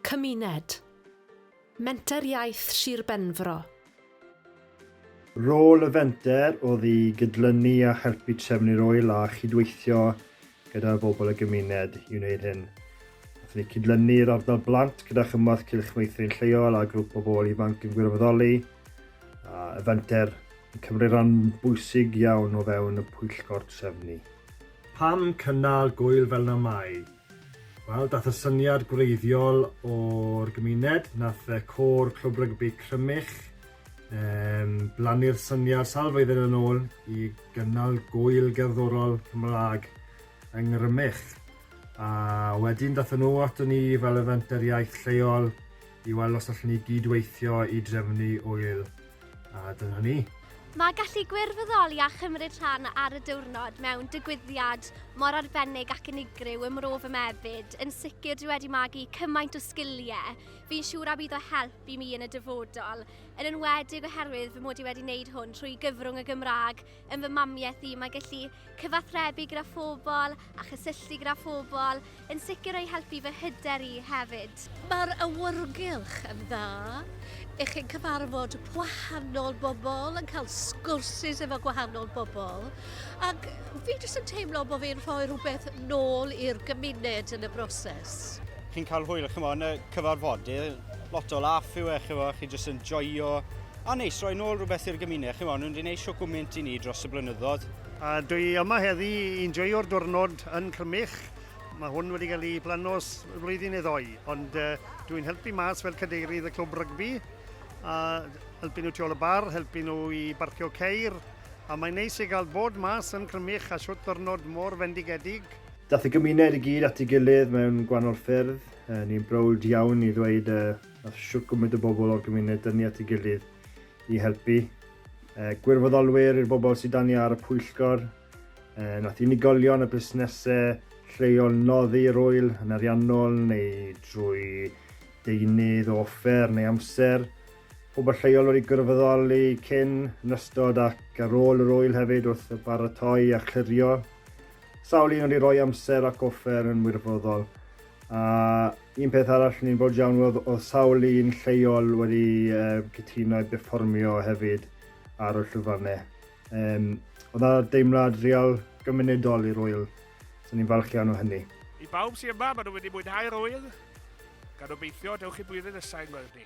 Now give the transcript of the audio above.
Cymuned. Menter Iaith Sir Benfro. Rôl y fenter oedd i gydlynu a helpu trefn i'r ŵyl a chydweithio gyda bobl y gymuned i wneud hyn. Hoffwn i cydlynu'r ardal blant gyda chymorth cylch meithrin lleol a grŵp o bobl ifanc yn gwirfoddoli. A y fenter yn cymryd rhan bwysig iawn o fewn y pwyllgor trefnu. Pam cynnal gwyl fel na mai? Wel, dath y syniad gwreiddiol o'r gymuned, nath y côr Clwb Rygbi Crymych um, blannu'r syniad sawl flwyddyn yn ôl i gynnal gwyl gerddorol Cymraeg yng Ngrymych. A wedyn dath nhw ato ni fel y fenter iaith lleol i weld os allwn ni gydweithio i drefnu wyl A dyna ni. Mae gallu gwirfoddoli a chymryd rhan ar y diwrnod mewn digwyddiad mor arbennig ac unigryw ym Mro fy Mefyd yn sicr dwi wedi magu cymaint o sgiliau fi'n siŵr a bydd o help i mi yn y dyfodol, yn enwedig oherwydd fy mod i wedi wneud hwn trwy gyfrwng y Gymraeg yn fy mamiaith i, mae gallu cyfathrebu gyda phobl a chysylltu gyda phobl yn sicr o'i helpu fy hyder i hefyd. Mae'r awyrgylch yn dda i chi'n cyfarfod gwahanol bobl, yn cael sgwrsus efo gwahanol bobl, ac fi jyst yn teimlo bod fi'n rhoi rhywbeth nôl i'r gymuned yn y broses. Chi'n cael hwyl, chymod, yn y cyfarfodydd, lot o laff yw e, chymod, chi jyst yn joio A neis, roi nôl rhywbeth i'r gymuned. Chi'n fawr, nhw'n di neud siw gwmynt i ni dros y blynyddoedd. A dwi yma heddi i'n joio'r diwrnod yn Crymych. Mae hwn wedi cael ei planos flwyddyn neu ddoi, ond uh, dwi'n helpu mas fel cadeirydd y clwb rygbi, a helpu nhw tu ôl y bar, helpu nhw i barcio ceir, a mae'n neis i gael bod mas yn Crymych a siwt diwrnod mor fendigedig. Dath y gymuned i gyd at ei gilydd mewn gwahanol ffyrdd. Uh, ni'n browd iawn i ddweud uh, Wnaeth shwt gwmynt o bobl o'r gymuned dynnu at ei gilydd i helpu. Eh, gwirfoddolwyr i'r bobl sydd dan ni ar y pwyllgor. Eh, nath unigolion a busnesau lleol noddi yr wyl yn ariannol neu drwy deunydd o offer neu amser. Pobl lleol wedi gwirfoddoli cyn, yn ystod ac ar ôl yr wyl hefyd wrth y baratoi a chlirio. Sawl un wedi rhoi amser ac offer yn wirfoddol. A un peth arall ni'n fawr iawn oedd oedd sawl un lleol wedi um, cytuno i berfformio hefyd ar y llwyfannau. Um, oedd yna deimlad real gymunedol i'r wyl, so ni'n falch iawn o hynny. I bawb sy'n yma, maen nhw wedi mwynhau'r wyl, gan obeithio dewch i blwyddyn nesau yn gweld ni.